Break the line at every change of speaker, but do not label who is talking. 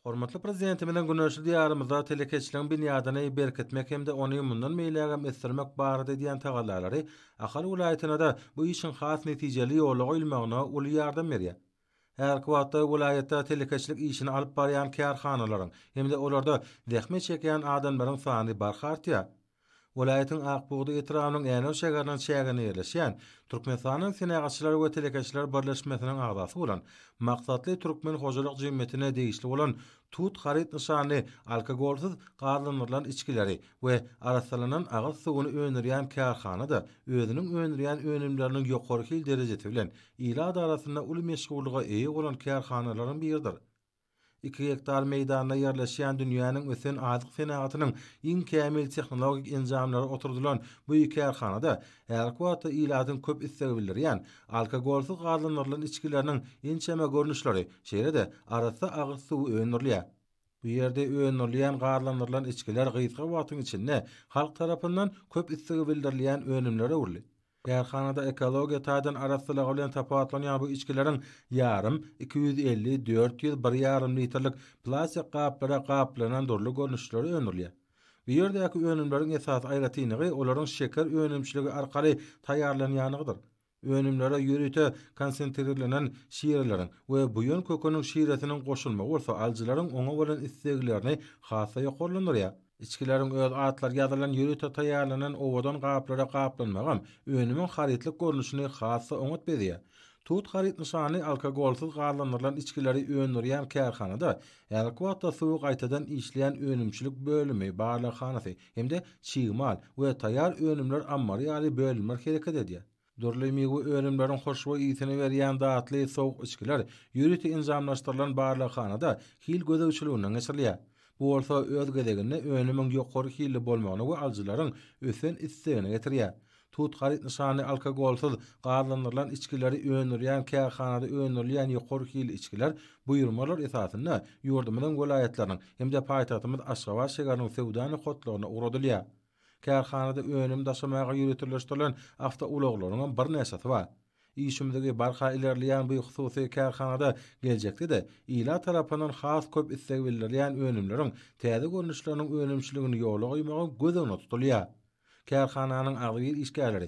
Hormatly Prezidentimiziň güneşli Diýarymyzda telekeçiligiň binýadyny berkitmek hem-de ony mundan beýlägem ösdürmek barada edýän tagallalary Ahal welaýatyna-da bu işiň has netijeli ýola goýulmagyna uly ýardam berýär. Häzirki wagtda welaýatda telekeçilik işini alyp barýan kärhanalaryň hem-de olarda zähmet çekýän adamlaryň sany barha artýar. Welaýatyň Ak bugda etrabynyň Änew şäheriniň çäginde ýerleşýän, Türkmenistanyň Senagatçylar we telekeçiler birleşmesiniň agzasy bolan Maksatly türkmen hojalyk jemgyýetine degişli bolan Tut haryt nyşanly alkogolsyz gazlandyrylan içgileri we arassalanan agyz suwuny öndürýän kärhana-da özüniň öndürýän önümleriniň ýokary hil derejesi bilen ilat arasynda uly meşhurlyga eýe bolan kärhanalaryň biridir. Iki gektar meýdanda ýerleşýän dünýäniň ösen azyk senagatynyň iň kämil tehnologik enjamlary oturdylan bu kärhanada häzirki wagtda ilatyň köp islegi bildirýän alkogolsyz gazlandyrylan içgileriniň ençeme görnüşleri, şeýle-de arassa agyz suwy öndürilýär. Bu ýerde öndürilýän gazlandyrylan içgiler gysga wagtyň içinde halk tarapyndan köp islegi bildirilýän önümlere öwrüldi. Kärhanada ekologiýa taýdan arassalygy bilen tapawutlanýan bu içgileriň ýarym, iki ýüz elli, dört ýüz, bir ýarym litrlik plastik gaplara gaplanan dürli görnüşleri öndürilýär. Bu ýerdäki önümleriň esasy aýratynlygy olaryň şeker önümçiligi arkaly taýýarlanýandygydyr. Önümlere ýörite konsentrirlenen şireleriň we buýan köküniň şiresiniň goşulmagy bolsa alyjylaryň oňa bolan isleglerini has-da ýokarlandyrýar. Içgileriň öz atlary ýazylan ýörite taýýarlanan owadan gaplara gaplanmagam önümiň harytlyk görnüşini has-da oňat bezýär. Tut haryt nyşany alkogolsyz gazlandyrylan içgileri öndürýän kärhanada häzirki wagtda suwy gaýtadan işleýän önümçilik bölümi, barlaghanasy hem-de çig mal we taýýar önümler ammary ýaly bölümler hereket edýär. Dürli miwe önümleriň hoşboý ysy-ny berýän datly sowuk içgiler ýörite enjamlaşdyrylan barlaghanada hil gözegçiliginden geçirilýär. Bu bolsa, öz gezeginde, önümiň ýokary hilli bolmagyna we alyjylaryň ösen islegine getirýär. Tut haryt nyşany alkogolsyz gazlandyrylan içgileri öndürýän kärhanada öndürilýän ýokary hilli içgiler buýurmalar esasynda ýurdumyzyň welaýatlarynyň hem-de paýtagtymyz Aşgabat şägeriniň söwda nokatlaryna ugradylýar. Kärhanada önüm daşamaga ýöriteleşdirilen awtoulaglaryňam birnäçesi bar. Işimzigi barha ilerleýän bu hususy kärhanada geljekde-de ilat tarapyndan has köp isleg bildirilýän önümleriň täze görnüşleriniň önümçiligini ýola goýmagy göz öňünde tutulýar. Kärhananyň agzybir işgärleri